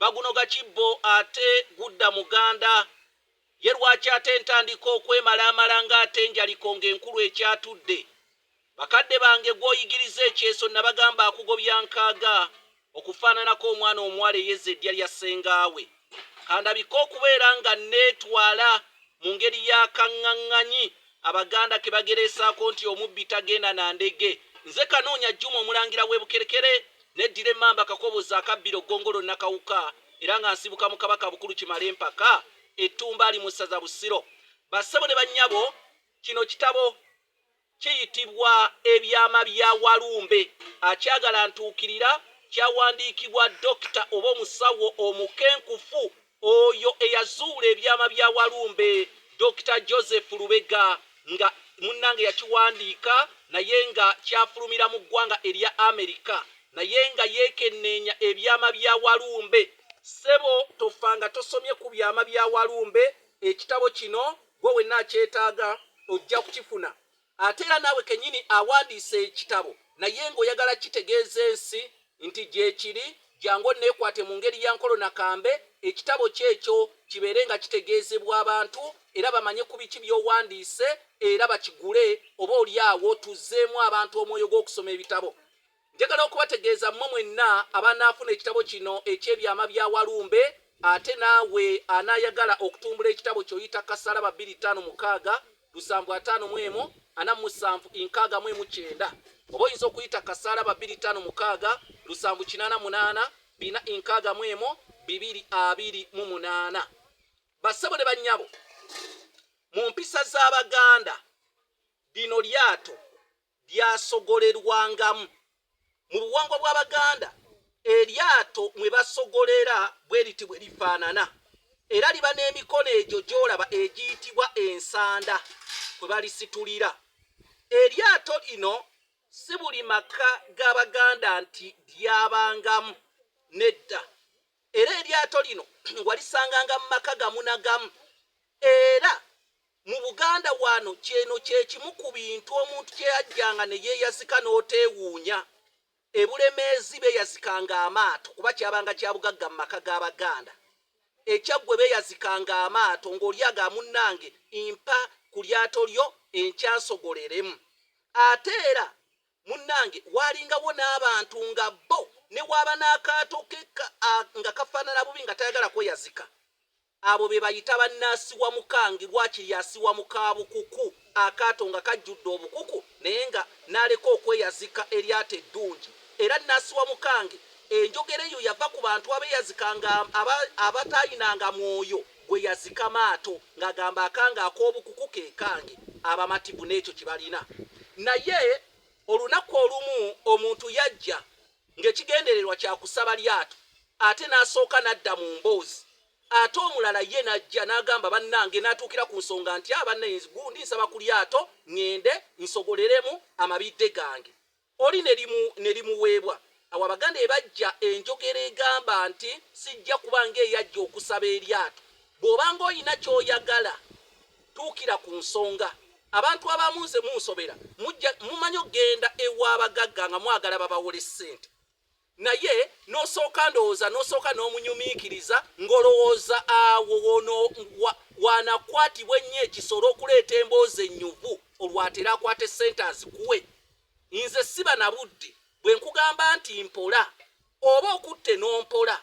bagunoga kibbo ate gudda muganda. Ye lwaki ate ntandika okwemalaamala ng'ate enjaliko ng'enkulu ekyatudde? Bakadde bange gw'oyigiriza ekyeso nabagamba akugobya nkaaga okufaananako omwana omuwala eyezza eddya lya ssengaawe. Kandabike okubeera nga nneetwala mu ngeri ya kang'ang'anyi Abaganda ke bagereesaako nti omubbi tagenda na ndege. Nze Kanoonya Juma Omulangira w'e Bukerekere Neddira Emmamba Kakoboza akabbiro Ggongolo Nakawuka era nga nsibuka mu Kabaka Bukulu Kimala Empaka e Ttumbaali mu Ssaza Busiro. Bassebo ne bannyabo, kino kitabo kiyitibwa Ebyama bya Walumbe akyagala ntuukirira kyawandiikibwa Dokita oba omusawo omukenkufu Oyo eyazuula ebyama bya Walumbe Dokita Joseph Lubega nga munnange yakiwandiika naye nga kyafulumira mu ggwanga erya Amerika naye nga yeekenneenya ebyama bya Walumbe. Ssebo tofa nga tosomye ku byama bya Walumbe. Ekitabo kino gwe wenna akyetaaga ojja kukifuna. Ate era naawe kennyini awandiise ekitabo naye ng'oyagala kukitegeeza ensi nti gyekiri, jangu onneekwate mu ngeri ya Nkolo na Kambe ekitabo kyo ekyo kibeere nga kitegeezebwa abantu era bamanye ku biki by'owandiise era bakigule oba olyawo tuzzeemu abantu omwoyo gw'okusoma ebitabo. Njagala okubategeeza mmwe mwenna abanaafuna ekitabo kino eky'ebyama bya Walumbe, ate naawe anaayagala okutumbula ekitabo kyo yita Kasalaba bbiri ttaano mukaaga lusanvu ataano mu emu ana mu musanvu nkaaga mu emu kyenda oba oyinza okuyita Kasalaba bbiri ttaano mukaaga lusanvu kinaana munaana bina nkaaga mu emu bibiri abiri mu munaana. Bassebo ne bannyabo, mu mpisa z'Abaganda lino lyato Byasogolerwangamu. Mu buwangwa bw'Abaganda, eryato mwe basogolera bwe liti bwe lifaanana era liba n'emikono egyo gy'olaba egiyitibwa ensanda kwe balisitulira. Eryato lino si buli maka ga Baganda nti lyabangamu, nedda, era eryato lino walisanganga mu maka gamu na gamu era. Mu Buganda wano ky'eno kye kimu ku bintu omuntu kye yajjanga ne yeeyazika n'oteewuunya. E Bulemeezi beeyazikanga amaato kuba kyabanga kya bugagga mu maka g'Abaganda. E Kyaggwe beeyazikanga amaato ng'olyaga munnange mpa ku lyato lyo enkya nsogoleremu. Ate era munnange waalingawo n'abantu nga bo ne bw'aba n'akaato ke nga kafaanana bubi nga tayagala kweyazika Abo be bayita bannaasiwa mukangi, waakiri asiwa mu ka bukuku, akaato nga kajjudde obukuku naye nga n'aleka okweyazika eryato eddungi. Era nnaasiwa mukangi, enjogera eyo yava ku bantu abeeyazika nga aba, abataalinanga mwoyo gweyazika maato, ng'agamba akange ak'obukuku ke kange, abamativu n'ekyo kye balina. Naye olunaku olumu omuntu yajja. ng'ekigendererwa kya kusaba lyato ate n'asooka n'adda mu mboozi ate omulala ye n'ajja n'agamba bannange n'atuukira ku nsonga nti abanna enz gundi nsaba ku lyato ng'ende nsogoleremu amabidde gange oli ne limu ne limuweebwa awo Abaganda ebajja enjogera egamba nti sijja kuba ng'eyajja okusaba eryato bw'obanga olina ky'oyagala Tuukira ku nsonga. Abantu abamu nze munsobera. Mumanyi okugenda ew'abagagga nga mwagala babawole ssente naye n'osooka ndowooza n'osooka n'omunyumiikiriza ng'olowooza awo wono waanakwatibwa ennyo ekisola okuleeta emboozi ennyuvu olwatera akwata essente azikuwe. Nze siba na budde bwe nkugamba nti mpola. oba okutte n'ompola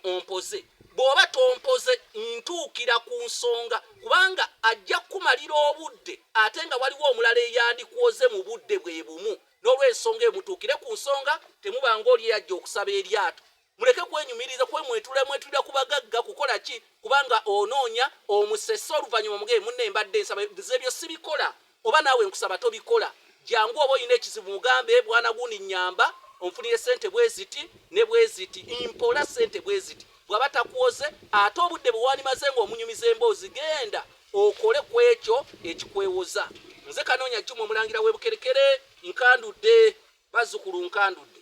ompoze bw'oba tompoze ntuukira ku nsonga kubanga ajja kukumalira obudde ate nga waliwo omulala eyandikwoze mu budde bwe bumu n'olwensonga emutuukire ku nsonga temuba ng'oli eyajja okusaba eryato muleke kwenyumiriza kwe mwetula mwetulira ku bagagga kukola ki kubanga onoonya omusese oluvannyuma mugee munne mbadde nsaba nze ebyo sibikola Oba naawe nkusaba tobikola. Jangu oba olina ekizibu mugambe bwana gundi nnyamba onfunire ssente bweziti ne bweziti mpola ssente bweziti. Bw'aba takuwoze ate obudde bwe wandimaze ng'omunyumiza emboozi genda okole ku ekyo ekikwewoza. Nze Kanoonya Juma Omulangira w'e Bukerekere nkandudde bazzukulu nkandudde.